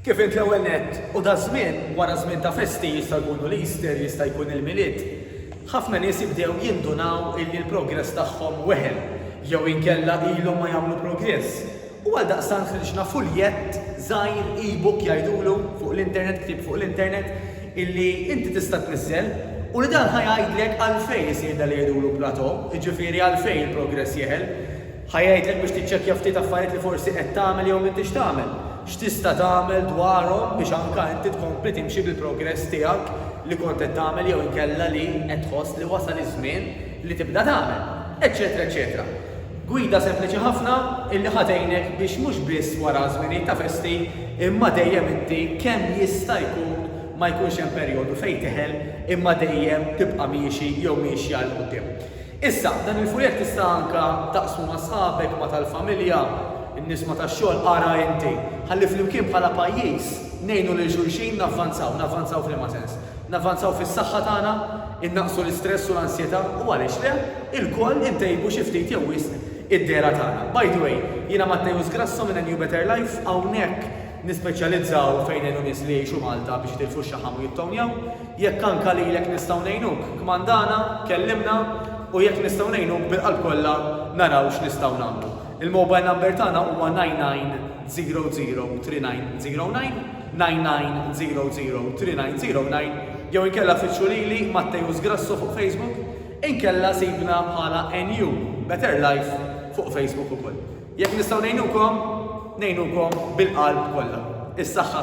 Kif int l-ewwel nett, u da żmien, wara żmien ta' festi, jista' jkunu l-Easter, jista' jkun il-Milied, ħafna nies jibdew jindunaw illi l-progress tagħhom weħel, jew inkella ilhom ma jagħmlu progress, u għaldaqstant ħriġna fuljett żgħir, e-book jgħidulu, fuq l-internet, ktieb fuq l-internet, illi inti tista' tniżżel, u li dan ħa jgħidlek għalfejn isir dak li jgħidulu plateau, jiġifieri għalfejn il-progress jeħel. Ħa jgħidlek biex tiċċekkja ftit affarijiet li forsi qed tagħmel jew m'intix tagħmel. X'tista' tagħmel dwarhom biex anke inti tkompli timxi bil-progress tiegħek li kont qed tagħmel jew inkella li qed tħoss li wasal iż-żmien li tibda tagħmel, eċċetera eċċetera. Gwida sempliċi ħafna illi ħa tgħinek biex mhux biss wara żminijiet ta' festi imma dejjem inti kemm jista' jkun ma jkunx hemm perjodu fejn teħel imma dejjem tibqa' miexi jew miexja 'l quddiem. Issa, dan il-fuljett tista' anke taqsmu ma' sħabek, ma' tal-familja, in-nies ma' tax-xogħol, ara inti, ħalli flimkien bħala pajjiż ngħinu lil xulxin navvanzaw. Navvanzaw f'liema sens? Navvanzaw fis-saħħa tagħna, innaqqsu l-istress u l-ansjetà u għaliex le, ilkoll intejbu xi ftit jew wisq id-dehra tagħna. By the way, jiena Matteus Grasso minn A New Better Life, hawnhekk nispeċjalizzaw fejn ngħinu nies li jgħixu Malta biex jitilfu x-xaħam u jittownjaw. Jekk anka lilek nistgħu ngħinuk, kmandana, kellimna, u jekk nistgħu ngħinuk bil-qalb kollha naraw x'nistgħu nagħmlu. Il-mobile number tagħna huwa 99003909, 99003909, jew inkella fittxu lili, Matteus Grasso fuq Facebook, inkella sibna bħala NU, Better Life, fuq Facebook ukoll. Jekk nistgħu ngħinukom, ngħinukom bil-qalb kollha. Is-saħħa.